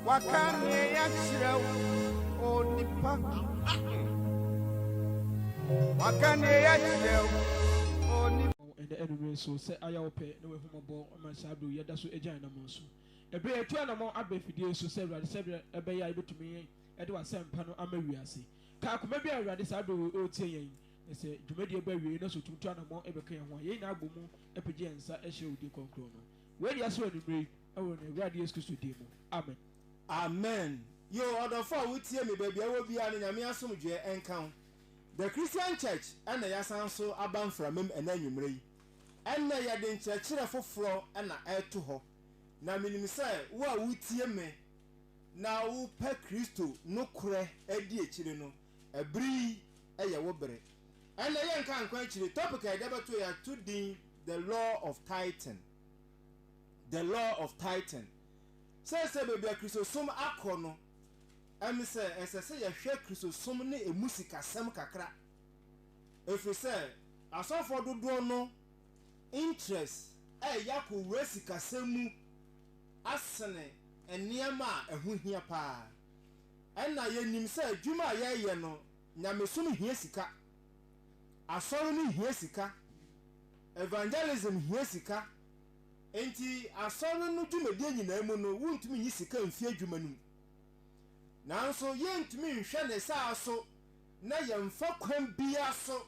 Waka neɛ yakyerɛ wo o nipa. Waka neɛ yakyerɛ wo o nipa. Ɛnɛ anumere so sɛ ayɛ wo pɛ na w'ahummɔbɔ ma saa bere yɛda so agya anammɔn so bere yɛtu anammɔn aba afidie yi so sɛ Awurade sɛdeɛ ɛbɛyɛ a yɛbɛtumi de w'asɛmpa no ama wiase kaa koma biara Awurade saa bere wei ɔretie yɛn na sɛ dwumadie ba awiei na sɛ ɔtumi tu anammɔn ɛbɛka yɛn ho a yɛn nyinaa bɔ mu apagya yɛn nsa ɛhyɛ wo din kɔnkrɔn no Wei yɛ so anwummerɛ yi wɔ yɛn Awurade Yesu Kristo din mu, amen. Amen. Yoo ɔdɔfo a wotie me baabi a ɛwɔ biara no Nyame asomdwoeɛ nka wo. The Christian Church na yɛasan so aba mframam ɛnɛ anwummerɛ yi. Ɛnnɛ yɛde nkyerɛkyerɛ foforɔ na ɛreto hɔ. Na menim sɛ wo a wotie me na wopɛ Kristo nokorɛ adi akyire no, Bere yi yɛ wo bere. Ɛnna yɛnka nkɔ akyiri. Topic a yɛde abɛto, yɛato din The Law of Tithing. The Law of Tithing. Seesei baabi a Kristosom akɔ no, ɛne sɛ ɛsɛ sɛ yɛhwɛ Kristosom ne emu sikasɛm kakra, ɛfiri sɛ asɔfoɔ dodoɔ no interest reyɛ akɔwura sikasɛm mu asene nneɛma a ɛho hia pa ara. Ɛnna yenim sɛ adwuma a yɛreyɛ no, nyamesom hia sika, asɔre no hia sika, evangelism hia sika. Enti asɔre no dwumadie nyinaa mu no, wontumi nyi sika mfi adwuma no mu. Nanso yɛntumi nhwɛ ne saa so na yɛmfa kwan biara so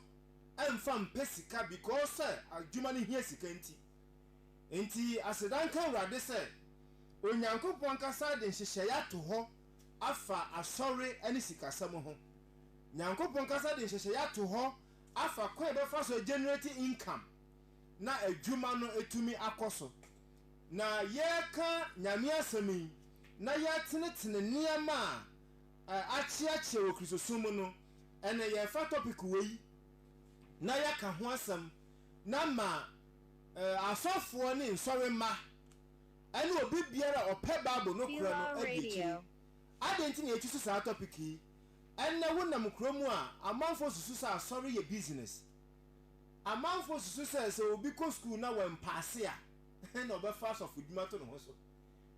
mfa mpɛ sika because sɛ adwuma no hia sika nti. Enti aseda nka Awurade sɛ Onyankopɔn ankasa de nhyehyɛeɛ ato hɔ afa asɔre ne sikasɛm ho. Nyankopɔn ankasa de nhyehyɛeɛ ato hɔ afa kwan a yɛbɛfa so agenerate income na adwuma no atumi akɔ so. Na yɛreka Nyame asɛm yi na yɛretenetene nneɛma a akyeakyea wɔ Kristosom mu no, ɛnnɛ yɛrefa topic wei na yɛaka ho asɛm na ma asɔfoɔ ne nsɔremma ne obi biara a ɔpɛ Bible no korɛ no adi akyire. Adɛn nti na yɛatu so saa tɔpik yi? Ɛnnɛ wonam kuro mu a, amanfoɔ susu sɛ asɔre yɛ bisinɛse. Amanfoɔ susu sɛ, sɛ obi kɔ sukuu na wampaase a, ɛnna ɔbɛfa asɔfodwuma ato ne ho so.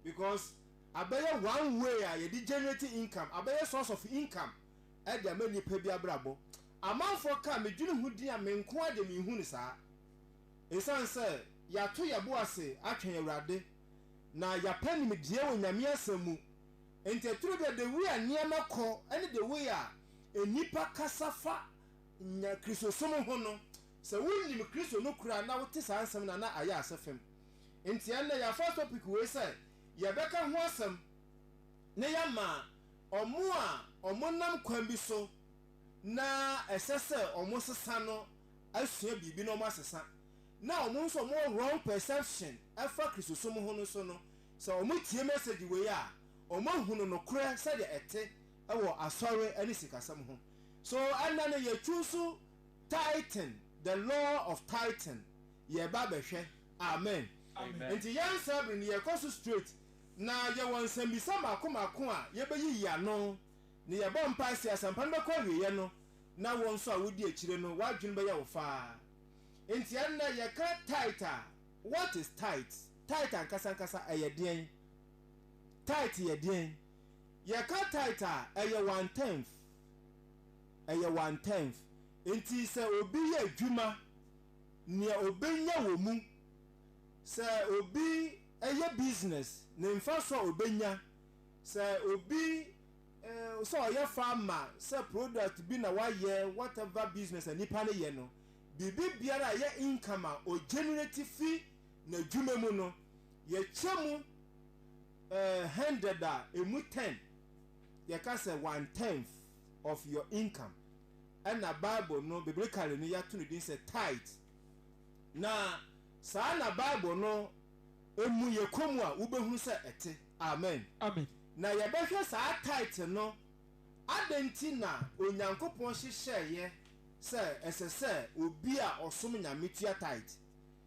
Because abɛyɛ one way a yɛde generate income, abɛyɛ source of income de ama nnipa bi abrabɔ. Amanfoɔ ka medwene ho din a menko ara deɛ menhu no saa. Esiane sɛ yɛato yɛbo ase atwɛn Awurade na yɛapɛ nimdeɛ wɔ Nyame asɛm mu nti ɛturo bi a the way a nneɛma kɔ ne the way a nnipa kasa fa nya Kristosom ho no sɛ wonim Kristo no koraa na wote saa nsɛm no a na ayɛ asɛ fam nti ɛnnɛ yɛafa topic wei sɛ yɛbɛka ho asɛm na yɛama ɔmo a ɔmo nam kwan bi so na ɛsɛ sɛ wɔn sesa no asua biribi na wɔn asesa na wɔn nso wɔn wɔ wrong perception ɛfa kristosom ho no so no sɛ wɔn tie message wei a wɔn ahunu nokorɛ sɛdeɛ ɛte ɛwɔ asɔre ɛne sikasɛm ho so ɛnɛ no yɛ choose tithing the law of tithing yɛ ba bɛhwɛ amen nti yɛn nsa bere no yɛ kɔ so straight na yɛ wɔ nsɛmbisa mako mako a yɛ bɛ yiyi ano Ne yɛbɔ mpae sɛ asɛmpa no bɛkɔ awieɛ no na wo nso a wodi akyire no w'adwene bɛyɛ wo faa. Enti ɛnnɛ yɛka tithe a, what is tithe? Tithe ankasa ankasa ɛyɛ deɛn? Tithe yɛ deɛn? Yɛka tithe a, ɛyɛ one tenth. Ɛyɛ one tenth. Enti sɛ obi yɛ adwuma, nea obɛnya wɔ mu, sɛ obi yɛ business, ne mfasoɔ a obɛnya, Sɛ obi sɛ ɔyɛ farmer sɛ product bi na wayɛ whatever business a nipa no yɛ no biribi biara a ɛyɛ income a ɔgenerate fi n'adwuma mu no yɛkyɛ mu hundred a ɛmu ten yɛka sɛ one tenth of your income ɛna bible no biblically no yɛato no din sɛ tithe na saa na bible no emu yɛ komm a, wubehu sɛ ɛte. Amen. Amen. Na yɛbɛhwɛ saa tithe no, Adɛn nti na Onyankopɔn hyehyɛeɛ sɛ ɛsɛ sɛ obi a ɔsom Nyame tua tithe?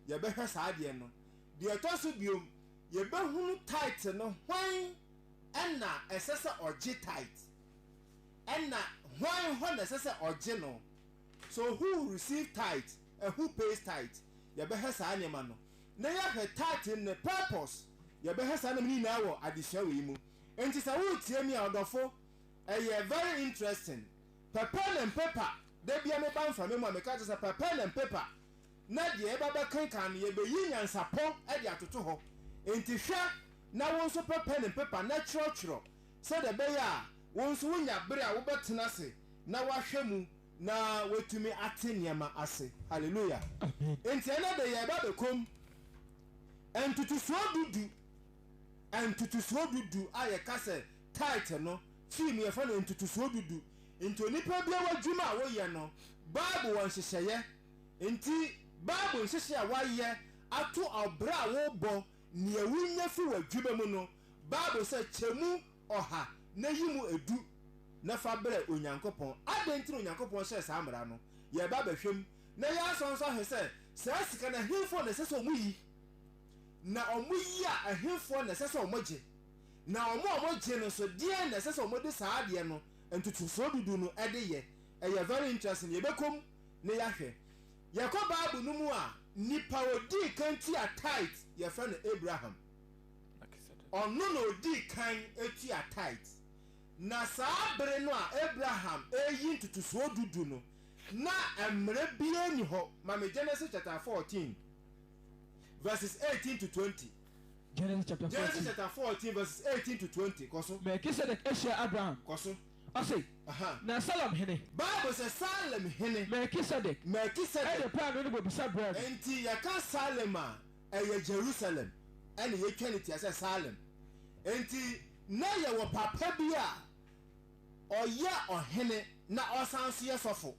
Yɛbɛhwɛ saa adeɛ no. Deɛ ɛtɔ so bio, yɛbɛhunu tithe no, hwan na ɛsɛ sɛ ɔgye tithe? Ɛna hwan hɔ na ɛsɛ sɛ ɔgye no? So who receive tithe and who pays tithe? Yɛbɛhwɛ saa nneɛma no. na yɛahwɛ title ne purpose, yɛbɛhwɛ saa nneɛma no nyinaa wɔ adesua wei mu. Enti sɛ woretie me a, ɔdɔfo, ɛyɛ very interesting. Pɛ pen and paper, da biara meba mframa mu a, meka kyerɛ sɛ pɛ pen and paper, na deɛ yɛba bɛkenkan no, yɛbɛyi nyansapɔ de atoto hɔ. Enti hwɛ na wo nso pɛ pen and paper na twerɛtwerɛ, sɛdeɛ ɛbɛyɛ a wo nso wonya bere a wobɛtena ase na woahwɛ mu. Na watumi ate nneɛma ase. Hallelujah. Amen. Enti ɛnɛ de yɛreba abɛkɔ mu. Ntotosoɔ du du, ntotosoɔ du du a yɛka sɛ tithe no, fii mu yɛfrɛ no ntotosoɔ du du. Nti onipa biara w'adwuma a woyɛ no, Bible wɔ nhyehyɛeɛ. Nti Bible nhyehyɛeɛ a wayɛ ato ɔbra a wobɔ, nea wonya fi w'adwuma mu no, Bible sɛ kyɛ mu. ɔha na yi mu edu na fa brɛ Onyankopɔn. Adɛn nti na Onyankopɔn hyɛɛ saa mmara no? Yɛreba abɛhwɛ mu, na yɛasan nso ahwɛ sɛ saa sika no, ɛhefoɔ na ɛsɛ sɛ wɔyi, na wɔyi a, ɛhefoɔ na ɛsɛ sɛ wɔgye, na wɔn a wɔgye no nso, deɛn na ɛsɛ sɛ wɔde saa adeɛ no ntotosoɔ dudu no de yɛ. Ɛyɛ very interesting. Yɛbɛkɔ mu na yɛahwɛ. Yɛkɔ Bible no mu a, nipa a ɔdii kan tuaa tithe, yɛfrɛ no Abraham. Ɔno na odii kan tuaa tithe. Na saa bere no a Abraham reyi ntotosoɔ du du no, na mmara biara nni hɔ ma me Genesis chapter fourteen verses eighteen to twenty. Genesis chapter fourteen. Genesis chapter fourteen verses eighteen to twenty. Kɔ so. Melkisedek hyia Abraham. Kɔ so. Ɔse, Na Salem hene. Bible sɛ Salem hene. Melkisedek. Melkisedek. De paanoo ne bobesa brɛɛ no. Enti yɛka Salem a, Ɛyɛ Jerusalem na yɛtwa no tia sɛ Salem. Enti na yɛwɔ papa bi a ɔyɛ ɔhene na ɔsan nso yɛ sɔfo.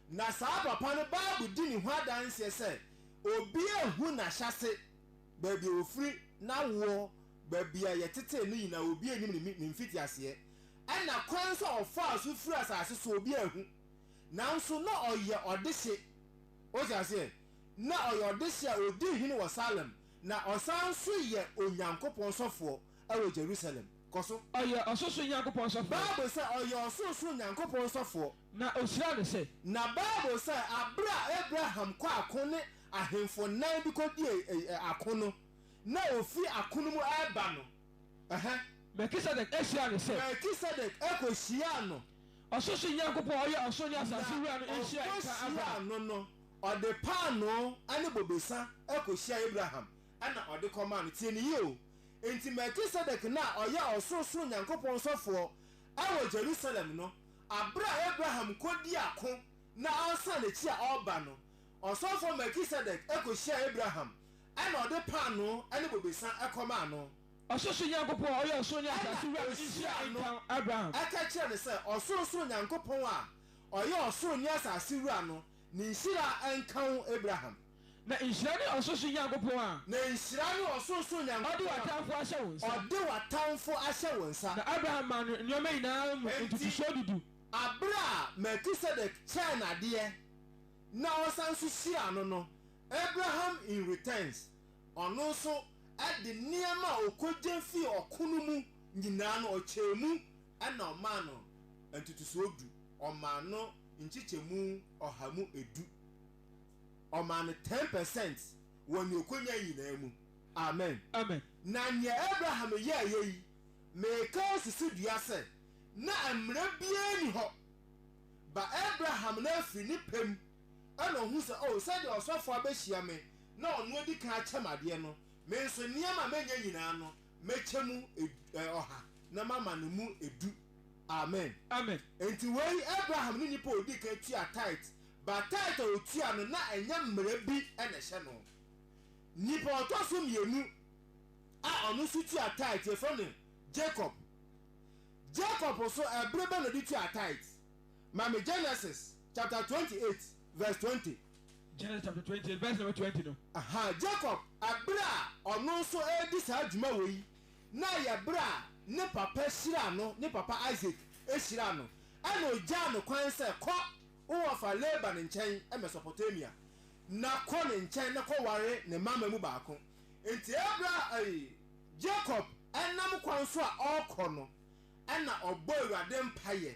Na saa papa no Bible di ne ho adanseɛ sɛ obiara nhu n'ahyɛase, baabi a ɔfiri, n'awoɔ, baabi a yɛtetee no nyinaa obiara nnim ne ne mfitiaseɛ. Ɛna kwan nso a ɔfaa so firii asase so obiara nhu. Nanso na ɔyɛ ɔdehye. Wote aseɛ? na ɔyɛ ɔdehye a odi hene wɔ Salem, na ɔsan nso yɛ Onyankopɔn sɔfoɔ wɔ Jerusalem. Kɔ so. Ɔyɛ ɔsorosoro Nyankopɔn sɔfoɔ. Bible sɛ, Ɔyɛ ɔsorosoro Nyankopɔn sɔfoɔ. Na ɔhyiraa no sɛ. Na Bible sɛ, Berɛ a Abraham kɔɔ ako ne ahemfo nnan bi kɔdii ako no, na ɔfiri ako no mu reba no, ɛhɛ. Melkisedek hyiraa no sɛ. Melkisedek kɔhyiraa no. Ɔsorosoro Nyankopɔn a ɔyɛ ɔsoro ne asase Wura no nhyira nka Abraham. Na ɔkɔhyiraa no no, Ɔde paanoo ne bobesa kohyiaa Abraham na ɔde kɔmaa no. Tie no yie o! Enti Melkisedek no a ɔyɛ ɔsorosoro Nyankopɔn sɔfoɔ wɔ Jerusalem no, berɛ a Abraham kɔdii ako na ɔresan n'akyi a ɔreba no, ɔsɔfoɔ Melkisedek kohyiaa Abraham na ɔde paanoo ne bobesa kɔmaa no. Ɔsorosoro Nyankopɔn a ɔyɛ ɔsoro ne asase Wura no nhyira nka Abraham. Ɛna ɔka kyerɛɛ no sɛ, Ɔsorosoro Nyankopɔn a ɔyɛ ɔsoro ne asase Wura no Ne nhyira nka wo Abraham. Na nhyira ne ɔsorosoro Nyankopɔn a. Na nhyira ne ɔsorosoro Nyankopɔn a. Ɔde w'atamfo ahyɛ wo nsa. Ɔde w'atamfo ahyɛ wo nsa. Na Abraham maa no nneɛma nyinaa mu ntotosoɔ du du. Enti, berɛ a Melkisedek kyɛɛ no adeɛ na ɔsan nso hyiraa no no, Abraham in returns, ɔno nso de nneɛma a ɔkɔgya fii ɔko no mu nyinaa no, ɔkyɛɛ mu na ɔmaa no ntotosoɔ du, ɔmaa no. nkyekyɛmu ɔha mu edu. Ɔmaa no ten per cent wɔ nea okonya nyinaa mu. Amen. Amen. Na nea Abraham yɛeɛ yi, meka si so dua sɛ, na mmara biara nni hɔ, ba Abraham no afiri ne pɛ mu, ɛna ɔhu sɛ, O, sɛdeɛ ɔsɔfoɔ abehyia me na ɔno adi kan akyɛ me adeɛ no, me nso, nneɛma a manya nyinaa no, Mɛkyɛ mu ɔha, na mama no mu du. Amen. Amen. Enti wei, Abraham ne nipa a ɔdii kan tuaa tithe, but tithe a ɔtuaa no, na ɛnyɛ mmara bi na ɛhyɛ no. Nipa a ɔtɔ so mmienu a ɔno nso tuaa tithe, yɛfrɛ no Jacob. Jacob nso, ɛbere bɛn na ɔde tuaa tithe? Ma me Genesis chapter twenty eight verse twenty. Genesis chapter twenty eight verse number twenty no. Aha, Jacob bere a ɔno nso redi saa dwuma wei yi, na ɛyɛ bere a ne papa hyiraa no, ne papa Isaac hyiraa no, ɛnna ogyaa no kwan sɛ, Kɔ wo wɔfa Laban nkyɛn, Mesopotamia, na kɔ ne nkyɛn na kɔware ne mma mma mu baako. Enti bere a ɛy, Jacob nam kwan so a ɔrekɔ no, ɛnna ɔbɔɔ Awurade mpaeɛ.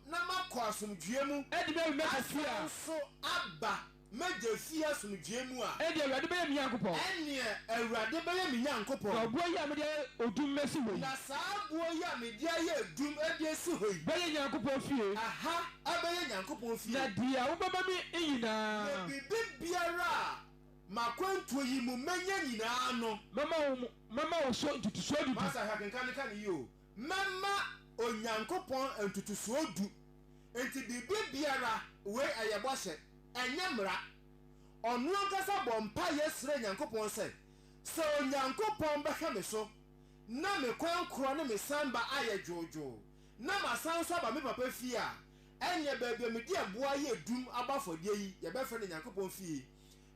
na makɔ asomdwoeɛ mu. Ɛnde mɛwe me kɛseɛ a. Asane nso aba m'agya fie asomdwoeɛ mu a. Ɛnde Awurade bɛyɛ me Nyankopɔn. Ɛnneɛ Awurade bɛyɛ me Nyankopɔn. Na ɔboɔ yi a mede ayɛ odum asi hɔ yi. Na saa boɔ yi a mede ayɛ odum de asi hɔ yi. Bɛyɛ Nyankopɔn fie. Ɛha bɛyɛ Nyankopɔn fie. Na deɛ wobɛma me nyinaa. Na biribiara a m'akwantuo yi mu mɛnya nyinaa no. Mɛma wo so ntotosoɔ dudu. Master, hwɛ akenkan no, ka no yie o. Mɛma Onyankopɔn ntotosoɔ du. Enti biribi biara, wei ɛyɛ bɔhyɛ, ɛnyɛ mmara. Ɔno ankasa bɔɔ mpaeɛ srɛɛ Nyankopɔn sɛ, Sɛ Onyankopɔn bɛhwɛ me so, na me kwan korɔ ne me sanba ayɛ dwoodwoo, na masan nso aba me papa fie a, ɛnneɛ baabi a mede ɛboɔ ayɛ dum abɔ afɔdeɛ yi, yɛbɛfrɛ no Nyankopɔn fie.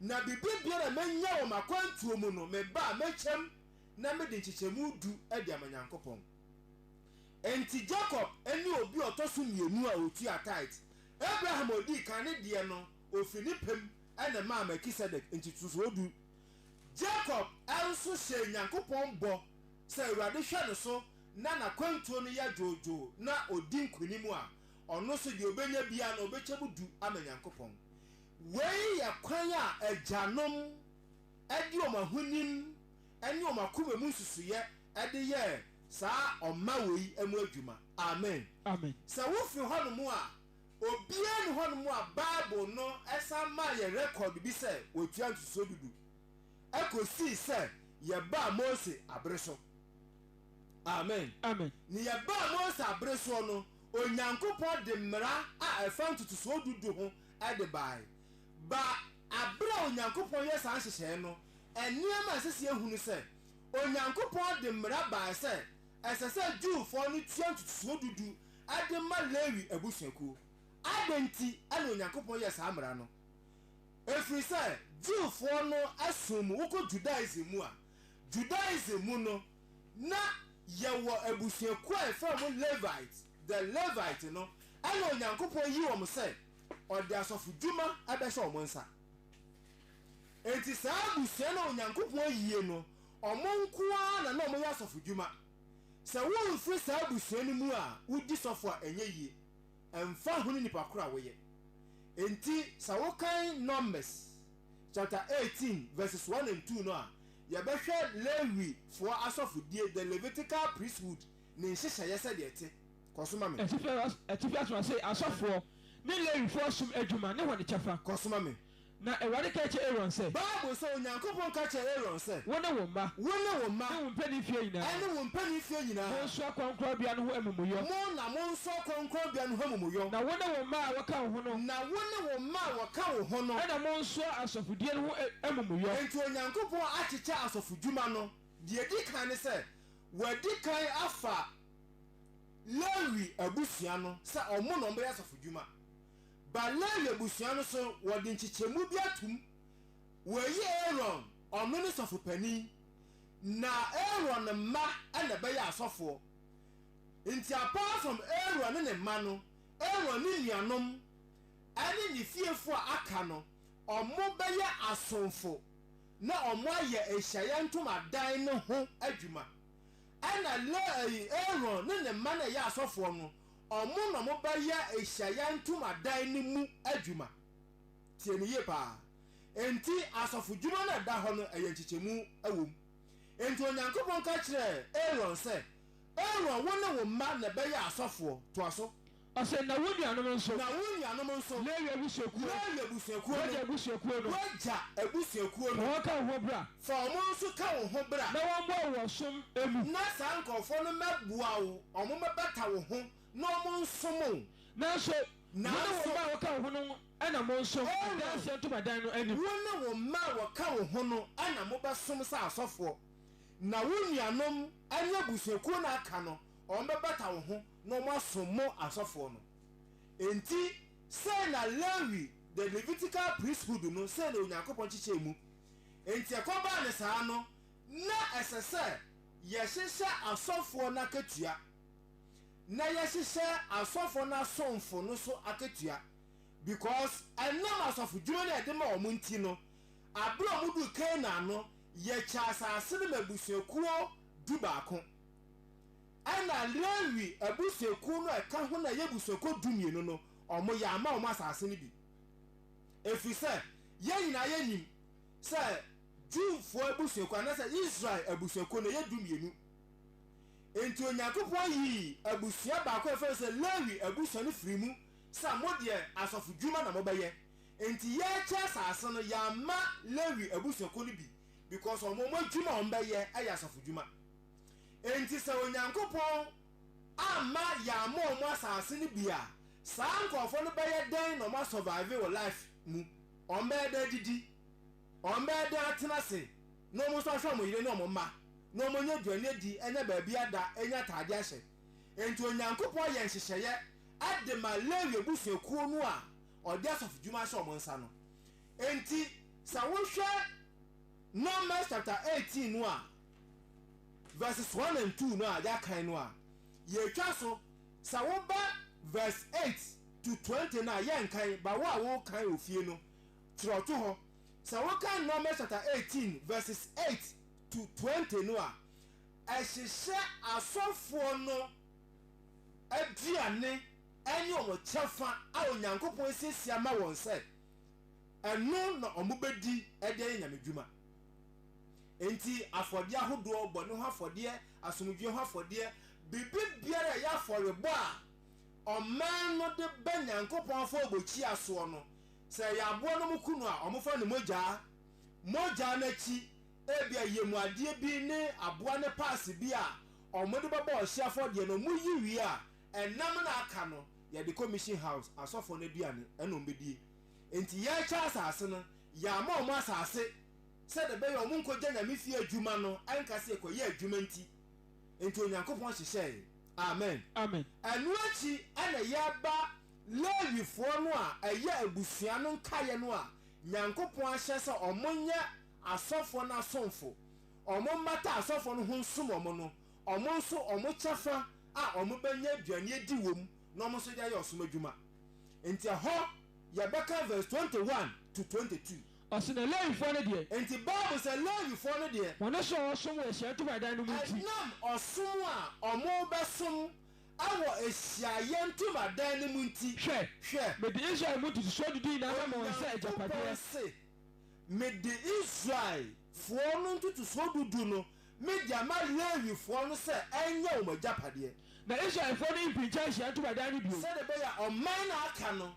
Na biribi biara a mɛnya wɔ m'akwantuo mu no, me ba a, mɛkyɛm. na mede nkyekyɛmu du de ama Nyankopɔn. Enti Jacob ne obi a ɔtɔ so mmienu a ɔtua tithe, Abraham a ɔdii kan ne deɛ no, ɔfiri ne pɛ mu na ɛmaa Melkisedek ntotosoɔ du. Jacob nso hyɛɛ Nyankopɔn bɔ sɛ Awurade hwɛ no so na n'akwantuo no yɛ dwoodwoo na ɔdi nkonim a, ɔno nso deɛ ɔbɛnya biara no, ɔbɛkyɛ mu du ama Nyankopɔn. Wei yɛ kwan a agyanom. de wɔn ahonim ne wɔn akoma mu nsusuiɛ de yɛɛ saa ɔma wei mu adwuma. Amen. Amen. Sɛ wofi hɔnom a, obiara nni hɔnom a Bible no san maa yɛn rekɔd bi sɛ wɔtua ntotosoɔ du du, kɔsii sɛ yɛbaa Mose abere so. Amen. Amen. Ne yɛbaa Mose abere soɔ no, Onyankopɔn de mmara a ɛfa ntotosoɔ du du ho de baae. baa bere a Onyankopɔn yɛɛ saa nhyehyɛe no, nneɛma a ɛsɛ sɛ yehu ne sɛ, Onyankopɔn de mmara bae sɛ ɛsɛ sɛ Jewfo no tua ntotoso du du de ma Lewi abusuakuw. Adɛn nti na Onyankopɔn yɛɛ saa mmara no? Ɛfiri sɛ Jewfo no som mu. Wokɔ Judaism mu a, Judaism mu no, na yɛwɔ abusuakuw a yɛfrɛ wɔn Levite, the Levite no, ɛnna Onyankopɔn yii wɔn sɛ ɔde asɔfodwuma bɛhyɛ wɔn nsa. Enti saa abusua no a Onyankopɔn ayie no, wɔn nko ara na na wɔyɛ asɔfodwuma. Sɛ womfiri saa abusua no mu a, wodi sɔfo a, ɛnyɛ yie, ɛmfa ho ne nnipa korɔ a woyɛ. Enti sɛ wokan Numbers chapter eighteen verses one and two no a, yɛbɛhwɛ Lewifoɔ asɔfodie, the Levitical priesthood, ne nhyehyɛeɛ sɛdeɛ ɛte. Kɔ so ma me. Atifi as, atifi asɔrasee, asɔfoɔ, ne Lewifoɔ som adwuma ne wɔn kyɛfa. Kɔ so ma me. Na Awurade kaa kyerɛɛ Aaron sɛ. Bible sɛ, Onyankopɔn ka kyerɛɛ Aaron sɛ. Wo ne wo mma. Wo ne wo mma. Ne wo mpanin fie nyinaa. Ɛne wo mpanin fie nyinaa. Monsoa kronkronbea no ho amumuyɔ. Mo na monsoa kronkronbea no ho amumuyɔ. Na wo ne wo mma a wɔka wo ho no. Na wo ne wo mma a wɔka wo ho no. Ɛna monsoa asɔfodie no ho amumuyɔ. Enti Onyankopɔn akyekyɛ asɔfodwuma no. Deɛ ɛdi kan ne sɛ, Wadi kan afa. Lewi abusua no sɛ wɔn na wɔbɛyɛ asɔfodwuma. Ba Lewi abusua no so wɔde nkyekyɛmu bi atom. Wɔayi Aaron, ɔno ne sɔfo panin, na Aaron mma na ɛbɛyɛ asɔfoɔ. Enti apart from Aaron ne ne mma no, Aaron ne nuanom ne ne fiefoɔ a aka no, wɔbɛyɛ asomfo na wɔayɛ ahyiaeɛ ntomadan no ho adwuma. Ɛna Lehi, Aaron ne ne mma no a ɛyɛ asɔfoɔ no, wɔn na wɔbɛyɛ ahyiaeɛ ntomadan no mu adwuma. Tie me yie pa ara. Enti, asɔfodwuma no a ɛda hɔ no, ɛyɛ nkyekyɛmu wɔ mu. Enti Onyankopɔn ka kyerɛɛ Aaron sɛ, Aaron, wo ne wo mma na ɛbɛyɛ asɔfoɔ. Toa so. Ɔse, Na wo nuanom nso. Na wo nuanom nso. Lewi abusuakuo. Lewi abusuakuo no. W'agya abusuakuo no. W'agya abusuakuo no. Fa wɔn ka wo ho bra. Fa wɔn nso ka wo ho bra. Na wɔmmoa wo wɔ ɔsom mu. Na saa nkurɔfoɔ no mmɛboa wo, wɔmmɛbata wo ho, na wɔnsom wo. Nanso, wo ne wo mma a wɔka wo ho no na monsom Adanseɛ ntomadan no anim. Wo ne wo mma a wɔka wo ho no na mobɛsom sɛ asɔfoɔ, na wo nuanom ne abusuakuo no a aka no, wɔbɛbata wo ho. na wɔasom mo asɔfoɔ no. Enti sei na Lewi, the Levitical priesthood, no, sei na Onyankopɔn kyekyɛɛ mu. Enti ɛkɔbaa no saa no, na ɛsɛ sɛ yɛhyehyɛ asɔfoɔ no akatua, na yɛhyehyɛ asɔfoɔ no asomfo no nso akatua, because ɛnam asɔfodwuma no a yɛde ma wɔn nti no, aberɛ a wɔduu Canaan no, yɛkyɛɛ asase no ma abusuakuo du-baako. Ɛnna Lewi abusuakuw no a ɛka ho no a ɛyɛ abusuakuw dumienu no, wɔamma wɔn asase no bi, ɛfiri sɛ yɛn nyinaa yɛnim sɛ Jewfoɔ abusuakuo, anaasɛ Israel abusuakuo no, ɛyɛ dumienu. Enti Onyankopɔn yii abusua baako a yɛfrɛ no sɛ Lewi abusua no firii mu sɛ mo deɛ asɔfodwuma na mobɛyɛ. Enti yɛrekyɛ asase no, yɛamma Lewi abusuakuo no bi because wɔn adwuma a wɔbɛyɛ yɛ asɔfodwuma. Enti sɛ Onyankopɔn amma yɛammɔ wɔn asase no bi a, saa nkurɔfoɔ no bɛyɛ dɛn na wɔn a survive wɔ life mu? Wɔn bɛyɛ dɛn adidi? Wɔn bɛyɛ dɛn atena ase na wɔn nso ahwɛ wɔn yere ne wɔn mma, na wɔn anya aduane adi, anya baabi ada, anya ataade ahyɛ? Enti Onyankopɔn yɛ nhyehyɛeɛ de ma Lewi abusuakuo no a ɔde asɔfodwuma ahyɛ wɔn nsa no. Enti sɛ wohwɛ Numbers chapter eighteen no a, verses one and two no a yɛakan no a, yɛatwa so. Sɛ woba verse eight to twenty no a, yɛnkan, ba wo a worekan wɔ fie no, kyerɛw to hɔ. Sɛ wokan Numbers chapter eighteen verses eight to twenty no a, ɛhyehyɛ asɔfoɔ no aduane ne wɔn kyɛfa a Onyankopɔn asiesie ama wɔn sɛ ɛno na wɔbɛdi de ayɛ Nyame dwuma. Enti afɔdeɛ ahodoɔ, bɔne ho afɔdeɛ, asomdwoeɛ ho afɔdeɛ, biribibiara a ɛyɛ afɔrebɔ a ɔman no de ba Nyankopɔn afɔrebukyia soɔ no, sɛ ɛyɛ aboa na wɔku no a, wɔfa ne mogya. Mogya no akyi, ebia yɛmuadeɛ bi ne aboa ne paase bi a wɔde bɛbɔ ɔhyeɛ afɔdeɛ no, wɔyi wie a, ɛnam na aka no, yɛde kɔ Mission House, asɔfoɔ no aduane, ɛna wɔbɛdie. Enti yɛrekyɛ asase no, yɛama wɔn asase sɛdeɛ ɛbɛyɛ a wɔnkɔgya Nyame fie adwuma no nka sɛ yɛkɔyɛ adwuma nti. Enti Onyankopɔn hyehyɛɛe. Amen. Amen. Ɛno akyi na yɛba Lewifoɔ no a ɛyɛ abusua no nkaeɛ no a Nyankopɔn ahyɛ sɛ wɔnyɛ asɔfoɔ no asomfo, wɔmmata asɔfoɔ no ho nsom wɔn no, wɔn nso wɔn kyɛfa a wɔbɛnya aduane adi wɔ mu, na wɔn nso de ayɛ ɔsom adwuma. Enti ɛhɔ yɛbɛka verse twenty one to twenty two. Ɔse na Lewifoɔ no deɛ. Enti Bible sɛ Lewifoɔ no deɛ. Wɔn so a wɔsom wɔ Ahyiaeɛ Ntomadan no mu nti. Ɛnam ɔsom a wɔbɛsom wɔ Ahyiaeɛ Ntomadan no mu nti. Hwɛ, hwɛ. Mede Israel mu ntotosoɔ dudu nyinaa bɛma wɔn sɛ agyapadeɛ. Onyankopɔn se, Mede Israelfoɔ no ntotosoɔ dudu no Mede ama Lewifoɔ no sɛ ɛnyɛ wɔn agyapadeɛ. Na Israelfoɔ no mpinkyɛn Ahyiaeɛ Ntomadan no bio. Sɛdeɛ ɛbɛyɛ a ɔman a aka no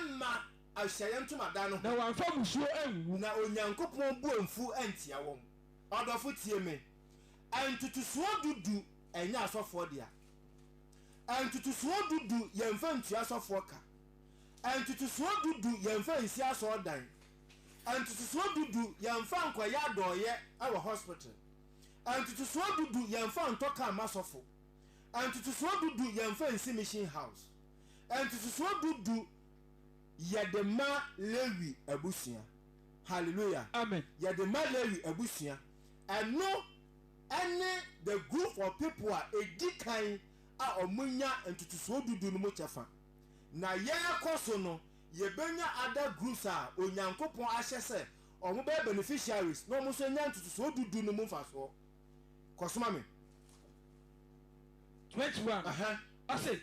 mma Ahyiaeɛ Ntomadan no ho. Na wɔamfa mmusuo anwuwu. Na Onyankopɔn bo amfu antia wɔn. Ɔdɔfo, tie me. Ntotosoɔ du du nyɛ asɔfoɔ dea. Ntotosoɔ du du yɛmfa ntua asɔfoɔ ka. Ntotosoɔ du du yɛmfa nsi asɔredan. Ntotosoɔ du du yɛnfa nkɔyɛ adɔɔyɛ wɔ hospital Ntotosoɔ du du yɛnfa ntɔ car ma sɔfo Ntotosoɔ du du yɛnfa nsi mission house Ntotosoɔ du du yɛde ma Lewi abusua Hallelujah Amen Yɛde ma Lewi abusua Ɛno ne the group of people a ɛdi kan a wɔnya ntotosoɔ du du no mu kyɛfa Na yɛrekɔ so no Yɛbɛnya other groups a Onyankopɔn ahyɛ sɛ wɔn bɛyɛ beneficiaries na wɔn nso anya ntotosoɔ du du no mu mfasoɔ. Kɔ so ma me. 21, Ɛhɛn. ɔse,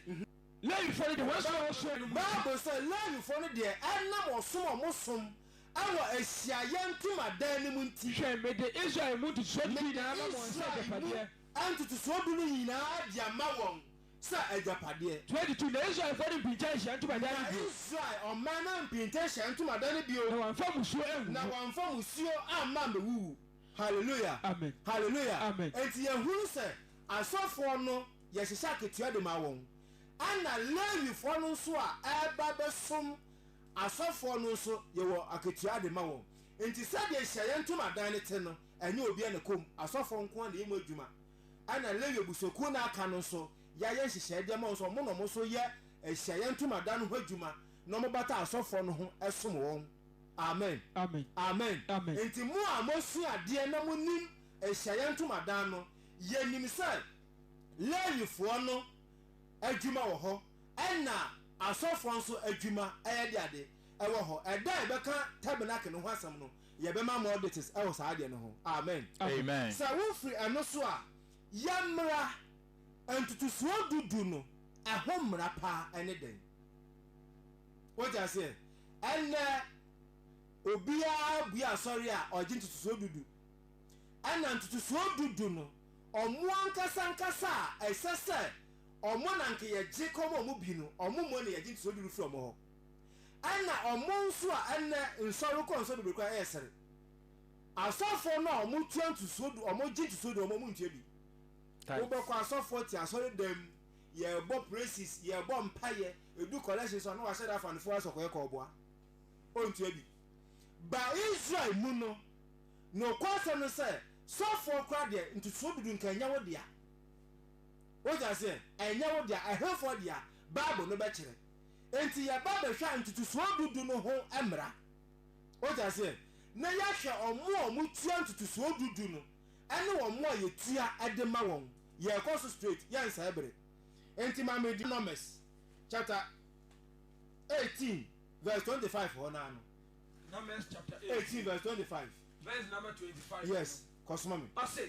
Lewifoɔ no deɛ wɔn som a wɔsom wɔ no mu nti. Bible sɛ Lewifoɔ no deɛ ɛnam ɔsom a wɔsom wɔ ahyiaeɛ ntomadan no mu nti. Hwɛ, mede Israel mu ntotosoɔ du du nyinaa ama wɔn sɛ agyapadeɛ. Mede Israel mu ntotosoɔ du no nyinaa de ama wɔn. sɛ agyapadeɛ. 22 na Israelfoɔ no mpinta Ahyiaeɛ Ntomadan no Na bio. Israel ɔman no ampinta Ahyiaeɛ Ntomadan no bio. Na wɔamfa mmusuo angugu. Na wɔamfa mmusuo amma ammɛwuwu. Haleluya! Amen! Haleluya! Amen! Enti yɛhunu sɛ asɔfoɔ no, yɛhyehyɛ akatua de ma wɔn. Ɛna Lewifoɔ no nso a ɛreba bɛsom asɔfoɔ no nso, yɛwɔ akatua de ma wɔn. Enti sɛdeɛ Ahyiaeɛ Ntomadan no te no, ɛnyɛ obiara na ɛkɔ mu. Asɔfoɔ nko ara na ɛyɛ mu adwuma. ɛna Lewi abusuakuo no a aka no nso yɛayɛ nhyehyɛeɛ de ama wɔn sɛ wɔn na wɔn nso yɛ ahyiaeɛ ntomadan no ho adwuma na wɔbata asɔfoɔ no ho som wɔn. Amen. Amen. Amen. Amen. Enti mo a moasua adeɛ na monim ahyiaeɛ ntomadan no, yɛnim sɛ Lewifoɔ no adwuma wɔ hɔ ɛna asɔfoɔ nso adwuma, ɛyɛ de ade, ɛwɔ hɔ. Ɛda a yɛbɛka tabernacle no ho asɛm no, Yɛbɛma more details ɛwɔ saa adeɛ no ho. Amen. Amen. Sɛ wo firi ɛno so a, yɛ mmra. Ntotosoɔ du du no ɛho mmra paa ɛne dɛn? Wote aseɛ? Ɛnnɛ obiara bue asɔre a ɔgye ntotosoɔ du du. Ɛna ntotosoɔ du du no ɔmo ankasa ankasa a ɛsɛ sɛ ɔmo na nka yɛgye kɔma ɔmo bi no, ɔmo mmɔ na yɛgye ntotosoɔ du du firi ɔmo hɔ. Ɛna ɔmo nso a ɛnɛ nsɔre kɔ nsɔre bebree koraa ɛɛsere. Asɔfoɔ no a ɔmo tua ntosuo du ɔmo gye ntosuo du ɔmo ɔmo ntua bi. Wobɛkɔ Tithes. asɔfoɔ te asɔre dɛm mu yɛɛbɔ praises yɛɛbɔ mpaeɛ edu collection so a na wahyɛ da afa ne four asɔkɔeɛ kɔ ɔboa ɔntua bi. Ba Israel mu no nokwɔ asɛm no sɛ sɔfoɔ koraa deɛ ntosuo du du nka ɛnyɛ wo dea. Wote aseɛ? Ɛnyɛ wo dea ɛhefoɔ dea? Bible no bɛkyerɛ. Enti yɛba bɛhwɛ a ntotosoɔ du du no ho mmara. Wote aseɛ? Na yɛahwɛ wɔn a wɔtua ntotosoɔ du du no ne wɔn a yɛtua de ma wɔn. Yɛrekɔ so straight, yɛnsɛe bere. Enti ma me Deuteronomist chapter eighteen verse twenty five hɔ no ara no. Numbers chapter eighteen. Eighteen verse twenty five. Verse number twenty five. Yes, kɔsoma me. Ɔse,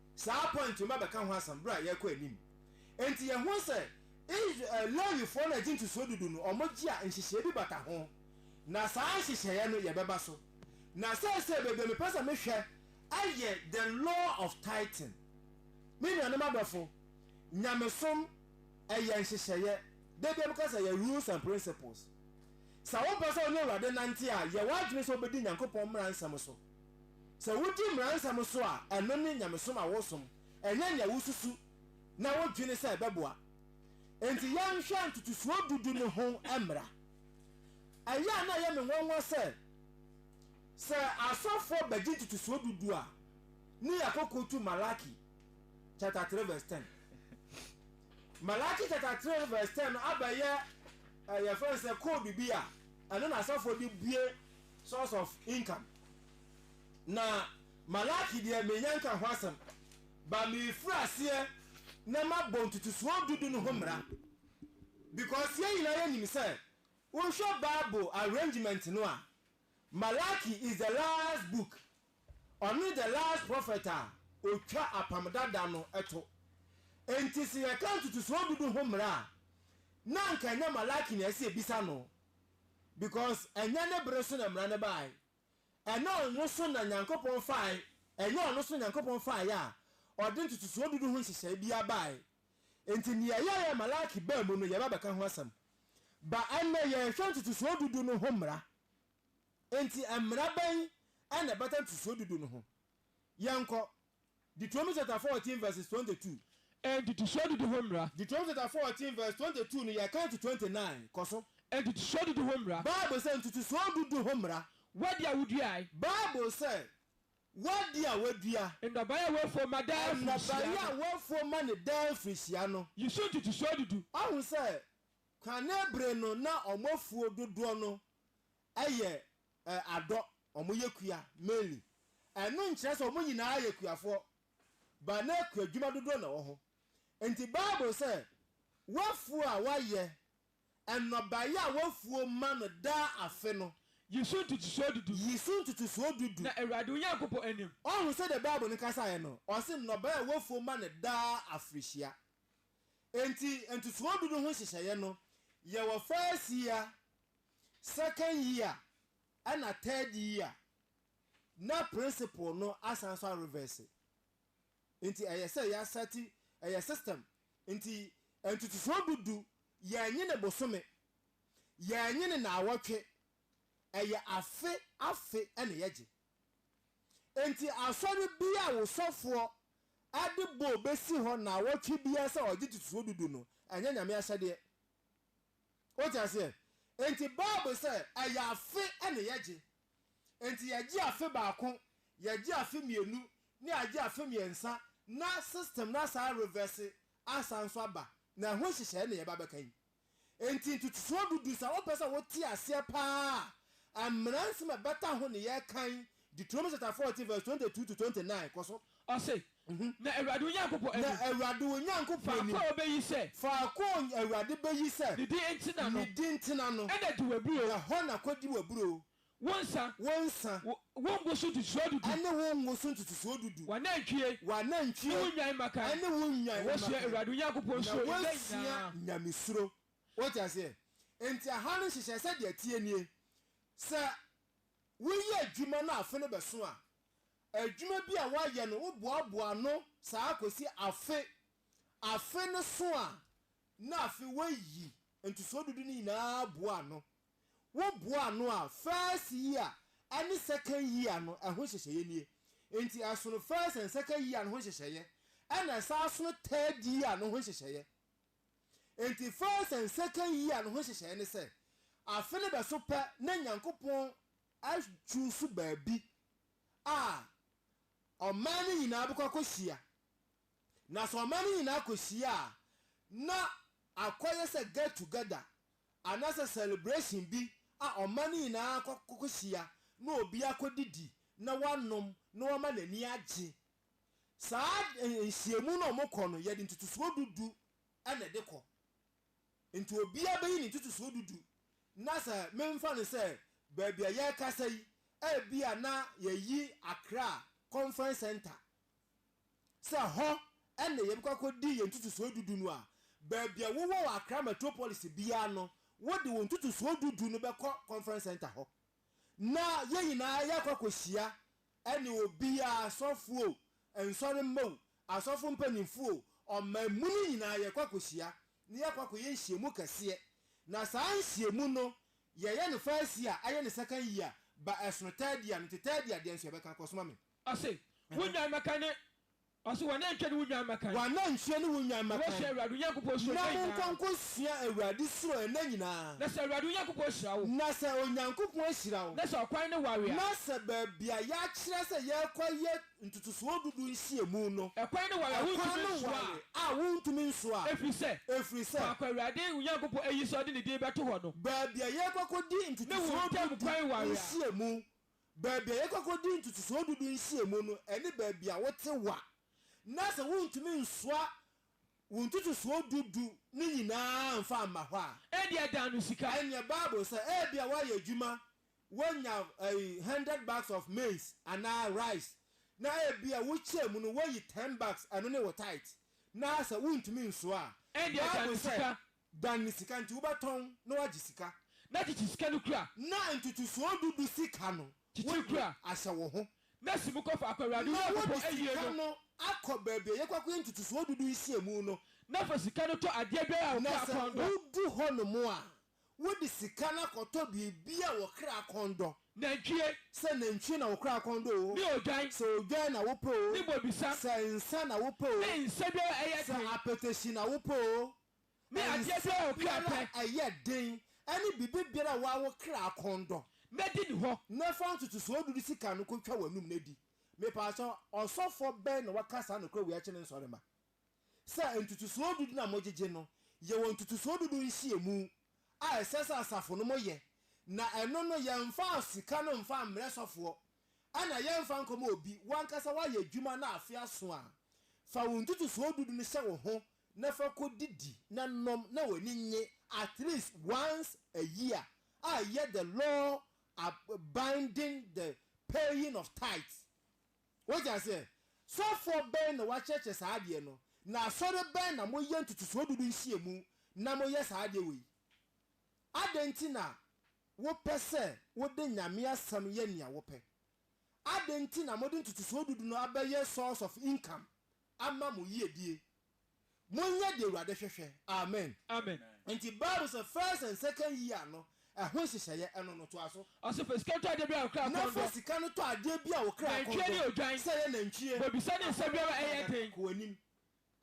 Saa point yi mɛbɛka ho asɛm bere a yɛrekɔ anim. Enti yɛhuu sɛ Is eh, Lewifoɔ na ɛgye ntosoɔ dudu no, wɔgye a nhyehyɛeɛ bi bata ho, na saa nhyehyɛeɛ no yɛbɛba so. Na seesei baabi a mepɛ sɛ mehwɛ yɛ the law of tithing. Me nuanom adɔfo, nyamesom yɛ nhyehyɛeɛ, da biara meka sɛ yɛ rules and principles. Sɛ wopɛ sɛ wo ne Awurade nante a, yɛ w'adwene sɛ wobɛdi Nyankopɔn mmara nsɛm so. Sɛ wudi mmara nsɛm so a, ɛno ne nyamesom a wosom, ɛnyɛ nea wususu na wudwene sɛ ɛbɛboa. Enti yɛnhwɛ ntotosoɔ du du no ho mmara. Ɛyɛ a na ɛyɛ me nwanwa sɛ, sɛ asɔfoɔ bɛgye ntotosoɔ du du a, ne yɛakɔkɔ tu Malaki chapter 3 verse 10. Malaki chapter 3 verse 10 no abɛyɛ ɛyɛ fɛn sɛ code bi a ɛno na asɔfoɔ de bue source of income na Malaki deɛ menya nka ho asɛm but mefiri aseɛ na mabɔ ntutusoɔ dudu no ho mmra because yɛn nyinaa yɛnim sɛ wohwɛ bible arrangement no a Malaki is the last book ɔne the last prophet a ɔtwa apam dada no to enti sɛ yɛka ntutusoɔ dudu ho mmra a na anka ɛnyɛ Malaki na ɛsɛ yɛbisa no because ɛnyɛ ne bere so na mmara no bae. Ɛnyɛ ɔno so na Nyankopɔn fae ɛnyɛ ɔno so na Nyankopɔn faeɛ a ɔde ntotosoɔ dudu ho nhyehyɛe biara bae. Enti nea ɛyɛeɛ a Malaki baa mu no yɛba bɛka ho asɛm. Ba ɛnnɛ yɛrehwɛ ntotosoɔ dudu no ho mmara. Enti mmara bɛn na ɛbata ntotosoɔ dudu no ho? Yɛnkɔ Deuteronomy chapter fourteen verses twenty two. Ntotosoɔ dudu ho mmara. Deuteronomy chapter fourteen verse twenty two no yɛkan to twenty nine, kɔ so. Ntotosoɔ dudu ho mmara. Bible sɛ, Ntotosoɔ dudu ho mmara. W'adi a woduae. Bible sɛ, W'adi a woadua. Nnɔbaeɛ a woafuo ma daa mfirihyia Nnɔbaeɛ no. a woafuo ma no daa mfirihyia no. Yi so ntotosoɔ dudu. Woahu sɛ, kane bere no na wɔafuo dodoɔ no Ɛyɛ ɛ adɔ ɔmo yɛ kua mainly ɛno nkyerɛ sɛ ɔmo nyinaa yɛ kuafoɔ but na kuadwuma dodoɔ na wɔho nti bible sɛ wafuo a wayɛ ɛnɔbaeɛ a wafuo ma no daa afe no Yi so ntotosoɔ du du. Yi so ntotosoɔ du du. Na Awurade wo Nyankopɔn anim. Ɔho sɛdeɛ bible no kasaeɛ no ɔse nnɔbaeɛ a wafuo ma no daa afrehyia nti ntotosoɔ du du ho nhyehyɛeɛ no yɛ wɔ first year second year ɛna third year na principle no asan nso a reverse nti ɛyɛ sɛ yɛ asɛte ɛyɛ system nti ntotosoɔ du du yɛn nye ne bosome yɛn nye ne naawɔtwe ɛyɛ afe afe ɛna yɛgye nti asɔre bi a wo sɔfoɔ ɛde bɔ bɛsi hɔ naawɔtwe biara sɛ ɔgye ntotosoɔ du du no ɛnyɛ nyame ahyɛdeɛ. Wote aseɛ? Enti Bible sɛ, ɛyɛ afe na yɛgye. Enti yɛgye afe baako, yɛgye afe mmienu, na yɛagye afe mmiɛnsa, na system no asan arevɛse asan nso aba, na ɛho nhyehyɛeɛ na yɛreba abɛka yi. Enti ntotosoɔ du du, sɛ wopɛ sɛ wote aseɛ pa ara a, mmara nsɛm a ɛbata ho na yɛreka yi, Deuteronomy chapter fourteen verse twenty two to twenty nine, kɔ so. Ɔse, Na Awurade wo Nyankopɔn Na anim, Awurade wo Nyankopɔn faako anim, a obeyi sɛ. faako a Awurade beyi sɛ. Ne din ntena no. Ne din ntena no. Ɛna di w'aburoo. Ɛhɔ na kodi w'aburoo. Wo nsa. Wo nsa. Wo ngo so ntotosoɔ du du. Ɛne wo ngo so ntotosoɔ du du. W'anantwie. W'anantwie. Ne wo nnwan mmakan. Ɛne wo nnwan mmakan. Na woasua Awurade wo Nyankopɔn suro nna nyinaa. Na woasua Nyame suro. Wote aseɛ? Enti ɛha no nhyehyɛeɛ sɛdeɛ ɛteɛ nie, sɛ woyɛ adwuma na afe no bɛso a, adwuma bi a woayɛ no woboaboa ano saa kɔsi afe afe no so a, na afei woayi ntosoɔ dudu no nyinaa aboa ano. Woboa ano a, first year ne second year no ɛho nhyehyɛeɛ nie. Nti ɛsono first and second year no ho nhyehyɛeɛ ɛna ɛsan sono third year no ho nhyehyɛeɛ. Nti first and second year no ho nhyehyɛeɛ ne sɛ, afe no bɛso pɛ na Nyankopɔn Adwo nso baabi a ɔman no nyinaa bɛkɔ akɔhyia. Na sɛ ɔman no nyinaa kɔhyia a, na akɔyɛ sɛ get together anaasɛ celebration bi a ɔman no nyinaa akɔhyia na obi akɔdidi na wanom na wama n'ani agye. Saa nhyiamu no a wɔkɔ no, yɛde ntotosoɔ du du na ɛde kɔ. Enti obiara bɛyi ne ntotosoɔ du du, na sɛ memfa no sɛ baabi a yɛrekasa yi, ebia na yɛayi Accra Conference Centre sɛ hɔ na yɛbɛkɔ akɔdi yɛn ntotosoɔ du du no a, baabi a wowɔ wɔ Accra Metropolis biara no, wode wo ntotosoɔ du du no bɛkɔ Conference Centre hɔ, na yɛn nyinaa yɛakɔ akɔhyia Ɛne obiaa, asɔfoɔ o, nsɔre mma o, asɔfo mpaninfoɔ o, ɔman mu no nyinaa yɛkɔ akɔhyia na yɛkɔ akɔyɛ nhyiamu kɛseɛ. Na saa nhyiamu no yɛyɛ no first year ayɛ no second year ba ɛsono third year no nti third year deɛ nso yɛbɛka, kɔsoma me. Ɔse, Wo nnwan mmɛka ne Ɔse w'anantwie ne wo nnwan mmakan. W'anantwie ne wo nnwan mmakan. Na wosua Awurade wo Nyankopɔn suro nna nyinaa. Na mo nko nko sua Awurade suro nna nyinaa. Na sɛ Awurade wo Nyankopɔn ahyira wo. Na sɛ Onyankopɔn ahyira wo. Na sɛ ɔkwan no ware a. Na sɛ baabi a yɛakyerɛ sɛ yɛrekɔyɛ ntotosoɔ dudu nhyiamu no. Ɛkwan no ware a wontumi nsoa a. Ɛkwan no ware a wontumi nsoa a. Ɛfiri sɛ. Ɛfiri sɛ. Faako a Awurade wo Nyankopɔn ayi sɛ ɔde ne din bɛto hɔ no. Baabi a yɛrekɔ akɔdi ntotosoɔ dudu nhyiamu Baabi a yɛkɔ kɔdi ntotosoɔ dudu nhyiamu no ne baabi a wote wa, na sɛ wontumi nsoa wo ntotosoɔ dudu no nyinaa mfa mma hɔ a, Ebia dan no sika. Ɛnyɛ Bible sɛ ebia woayɛ adwuma, woanya ɛyi hundred bags of maize anaa rice, na ebia wokyɛɛ mu no woayi ten bags, ɛno ne wo tithe, na sɛ wontumi nsoa a, Ebia dan no Bible sɛ sika. Dan ne sika nti wobɛtɔn na woagye sika. Na kyekyere sika no kura. Na ntotosoɔ du du sika no. Kyekyere kura. Ahyɛ wo ho. Na si mu kɔ faako a Awurade wo Nyankopɔn ayi no. Na wode sika no akɔ baabi a yɛkɔ akɔyɛ ntotosoɔ du du nhyiamu no. Na fa sika no tɔ adeɛ biara a wo kra kɔn dɔ. Na sɛ wodu hɔnom a, wode sika no akɔtɔ biribi a wo kra kɔn dɔ. Nantwie. Sɛ nantwie na wo kra kɔn dɔ oo. Ne odwan. Sɛ odwan na wopɛ oo. Ne bobesa. Sɛ nsã na wopɛ oo. Ne nsã biara a ɛyɛ den. Sɛ apɛtɛhyi na wopɛ oo. Me adeɛ biara a ɔkra pɛ. Nsɛm biara a ɛyɛ den. Ɛne biribi biara a woawo kra akɔn dɔ. Mɛdi ne hɔ. Na fa ntotosoɔ dudu sika no kɔtwa w'anum na di. Mepakyɛw, ɔsɔfoɔ bɛn na waka saa nokorɛ wei akyerɛ ne nsɔremma? Sɛ ntotosoɔ dudu na mogyegye no, yɛwɔ ntotosoɔ dudu nhyiamu a ɛsɛ sɛ asafo no mo yɛ, na ɛno no yɛmfa sika no mfa mmrɛ sɔfoɔ, ɛna yɛmfa nkɔma obi, wo ankasa woayɛ adwuma na afe aso a, fa wo ntotosoɔ dudu no hyɛ wo ho na fa kɔ didi na nom na w'ani nnye at least once a year a yɛ the law ab binding the paying of tithes wote aseɛ sɔfoɔ bɛn na wakyerɛkyerɛ saa adeɛ no na asɔre bɛn na mo yɛ ntotosoɔ dudu nhyiamu na mo yɛ saa adeɛ wei adɛn nti na wo pɛ sɛ wo de Nyame asɛm yɛ nea wo pɛ adɛn nti na mo de ntotosoɔ dudu no abɛyɛ source of income ama mo yiedie. Monyɛ deɛ Awurade hwehwɛ. Amen. Amen. Nti bible sɛ first and second year no ɛho nhyehyɛeɛ ɛno no toa so. Ɔse fa sika no tɔ adeɛ biara a wo kra Na kɔn fa dɔ. sika no tɔ adeɛ biara a wo kra kɔn Nantwie dɔ. ne odwan. Sɛ ɛyɛ nantwie, Bobesa ne nsɛm aboa biara a ɛyɛ pradada, den. kɔ w'anim.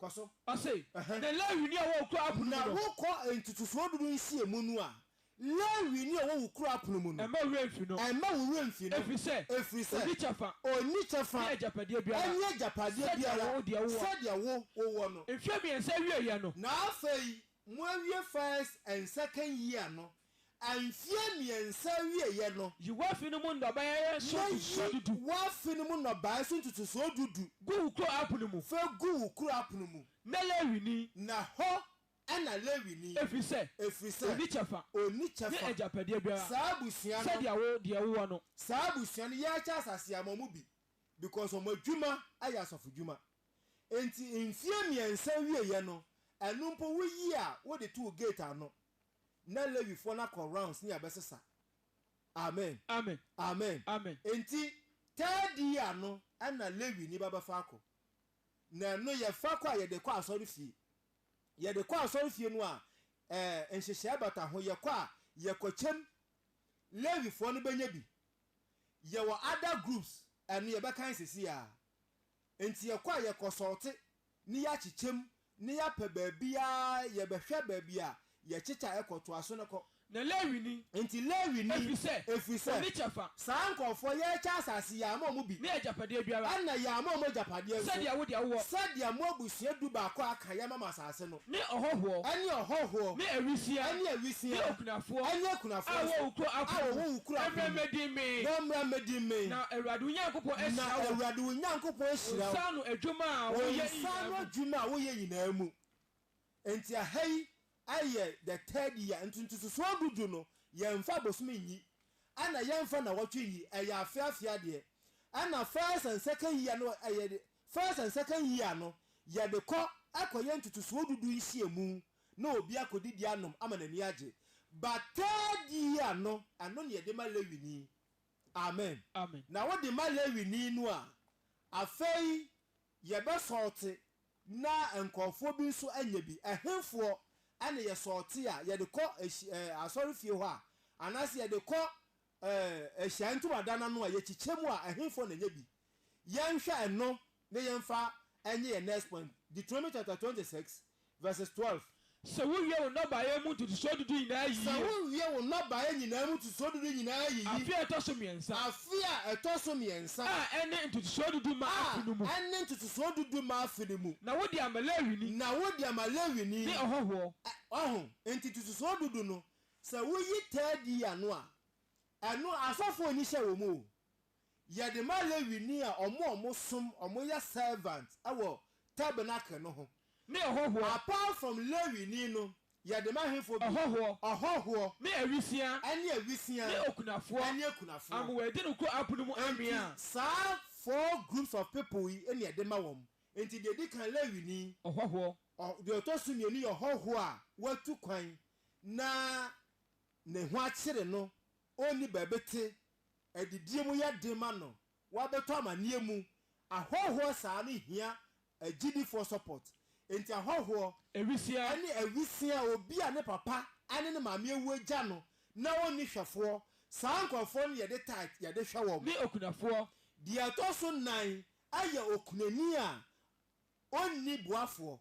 Kɔ so. Ɔse, Ɛhɛ. Na Lewini a ɔwɔ wo kuro Abun mu Na no. wokɔ ntotosoɔ du no nhyiamu no a, Lewini a ɔwɔ wo kuro apono mu no, Mma wo werɛ mfi no. mma wo werɛ mfi no, Ɛfiri sɛ, ɛfiri sɛ, ɔnni kyɛfa. ɔnni kyɛfa Ne agyapadeɛ biara. ne agyapadeɛ Sɛdeɛ biara wo deɛ wowɔ. sɛdeɛ wo wowɔ no. Mfeɛ mmiɛnsa awieeɛ no. Na afei moawie First and Second year no, mfeɛ mmiɛnsa awieeɛ no. Yi w'afe no mu nnɔbaeɛ so Na yi ntotosoɔ du du. w'afe no mu nnɔbaeɛ so ntotosoɔ du du. Gu wo kuro apono mu. Fa gu wo kuro apono mu. Na Lewini. Na hɔ ɛna Lewini. Efisɛ, Ɛfiri sɛ, onni kyɛfa. onni Ne kyɛfa. agyapadeɛ biara Saa abusua no. sɛdeɛ wo deɛ wowɔ no. Saa abusua no, yɛrekyɛ asase ama wɔn bi because wɔn adwuma yɛ asɔfodwuma. Enti mfeɛ mmiɛnsa wieɛ no, ɛno mpo woyi a wode to wo gate ano, na Lewifoɔ no akɔ rounds ne abɛsesa. Amen. Amen. Amen. Amen. Enti third year no ɛna Lewini ba bɛfa akɔ. Na ɛno yɛfa kɔ a yɛde kɔ asɔrefie. Yɛde kɔ asɔrefie no a, ɛɛ, nhyehyɛe bata ho. Yɛkɔ a, yɛkɔ kyɛm. Lewifoɔ no bɛnya bi. Yɛwɔ other groups, ɛno yɛbɛkan seesei ara. Enti yɛkɔ a, yɛkɔ sɔɔte, ne yɛakye kyɛm, ne yɛapɛ baabi ara, yɛbɛhwɛ baabi a Yɛkyekyɛ a, kɔtoa so na kɔ. Na Lewini. Enti Lewini. Ɛfiri sɛ. Ɛfiri sɛ. Ɔnni kyɛfa. Saa nkurɔfoɔ, yɛrekyɛ asase, yɛama wɔn bi. Ne agyapadeɛ biara. Ɛnna yɛama wɔn agyapadeɛ nso. Sɛdeɛ wo deɛ wowɔ. Sɛdeɛ mo abusua dubaako a aka yɛama mo asase no. Ne ɔhɔhoɔ. Ne ɔhɔhoɔ. Ne awisiaa. Ne awisiaa. Ne okunafoɔ. Ne akunafoɔ nso. A wɔwɔ wo kuro apono mu. A wɔwɔ wo kuro apono mu. Mmra mmɛdi mmee. Na mmra mmɛdi mmee. Na Awurade wo Nyankopɔn ahyira wo. Na Awurade wo Nyankopɔn ahyira wo. Wo nsa ano adwuma a woyɛ nyinaa mu. Wo nsa ano adwuma a woyɛ nyinaa mu. Enti aha yi ayɛ the third year nti ntotosoɔ du du no yɛnfa abosome nyi ɛna yɛnfa nawɔtwe nyi ɛyɛ afeɛ afeɛ adeɛ ɛna first and second year no ɛyɛ first and second year no yɛde kɔ ɛkɔyɛ ntotosoɔ du du nhyiamu na obi akɔdidi anom ama n'ani agye but third year no ɛno na yɛde ma Lewini amen Amen. na wode ma Lewini no a afei Yɛbɛ sɔɔte na nkorɔfoɔ bi nso nyɛ bi. Ɛhefoɔ na yɛ sɔɔte a yɛde kɔ ahyi ɛɛ asɔre fie hɔ a anaase yɛde kɔ ɛɛ ahyiaeɛ ntomadan ano a yɛkyekyɛ mu a ɛhefoɔ na nyɛ bi? Yɛnhwɛ ɛno na yɛmfa nyɛ yɛn next point, Deuteronomy chapter twenty six Verses twelve. Sɛ wowie wo nnɔbaeɛ mu ntotosoɔ dudu nyinaa Sɛ yiyi. wowie wo nnɔbaeɛ nyinaa mu ntotosoɔ dudu nyinaa yiyi. Afe a ɛtɔ so mmiɛnsa. Afe a ɛtɔ so mmiɛnsa. A ɛne ntotosoɔ dudu ma A afe no mu. ɛne ntotosoɔ dudu ma afe no mu. Na wode ama Lewini. Na wode ama Lewini. Ne ɔhɔhoɔ. Ɛ, wahu? Enti ntotosoɔ dudu no, sɛ woyi tɛɛdi ano a, ɛno asɔfoɔ nni hyɛ wɔ mu o. Yɛde ma Lewini a ɔmo a ɔmo som, ɔmo yɛ servant wɔ tabernacle no ho. Me ɔhɔhoɔ. Apart from Lewini no, yɛde ma hefoɔ bio? Ɔhɔhoɔ. Ɔhɔhoɔ. Me awisia. Ɛne awisia. Ne okunafoɔ. Ɛne akunafoɔ. Ama wɔadi no koro apono mu anwea. Enti saa four groups of people yi na yɛde ma wɔn. Enti deɛ edi kan, Lewini. Ɔhɔhoɔ. Ɔ, deɛ ɔtɔ so mmienu yɛ ɔhɔhoɔ a watu kwan na ne ho akyere no ɔnni baabi te, adidie mu yɛ den ma no, wabɛtɔ amaneɛ mu, ahɔhoɔ saa no hia agyidifoɔ support, enti ahɔhoɔ Awisia. ne awisia, obi a ne papa ne ne maame awu agya no na ɔnni hwɛfoɔ, saa nkorɔfoɔ no na yɛde tithe yɛde hwɛ wɔn. Ne okunafoɔ. Deɛ ɛtɔ so nnan yɛ okunani a ɔnni boafoɔ,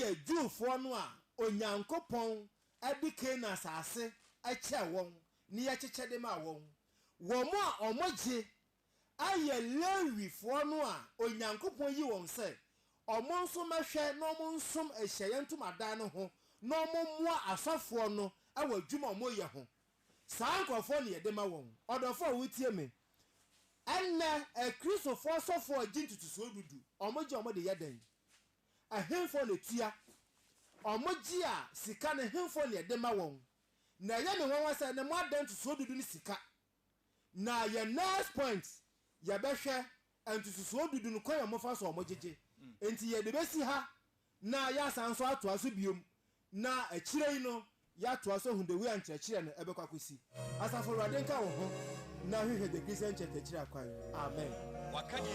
yɛ Jewfoɔ no a Onyankopɔn de Kanaan asase kyɛɛ wɔn ne yɛ kyekyɛ de maa wɔn. Wɔn a wɔgye yɛ Lewifoɔ no a Onyankopɔn yi wɔn sɛ wɔn nso mmɛhwɛ na wɔn nsom ahyiaeɛ ntomadan no ho na wɔn mmoa asɔfoɔ no wɔ adwuma a wɔyɛ ho. Saa nkorɔfoɔ na yɛde ma wɔn. Ɔdɔfoɔ a wotie me Ɛnnɛ, Kristofo asɔfo a gye ntotosoɔ du du, wɔgye wɔn de yɛ dɛn? Ɛhefoɔ na ɛtua? Wɔgye a sika no, ɛhefoɔ na ɛde ma wɔn? Na ɛyɛ me nwanwa sɛ ɛnnɛ moada ntotosoɔ du du ne sika. Na yɛn next point, yɛbɛhwɛ ntotosoɔ du du no kwan a wɔfa so a wɔgyegye. Enti yɛde bɛsi ha na yɛasan nso atoa so bio Na akyire yi no, yɛatoa so ahu the way a nkyerɛkyerɛ no ɛbɛkɔ akɔsi. Asafo Awurade nka wo ho na hwehwɛ The Christian Church akyiri akwan. Amen. Waka deɛ.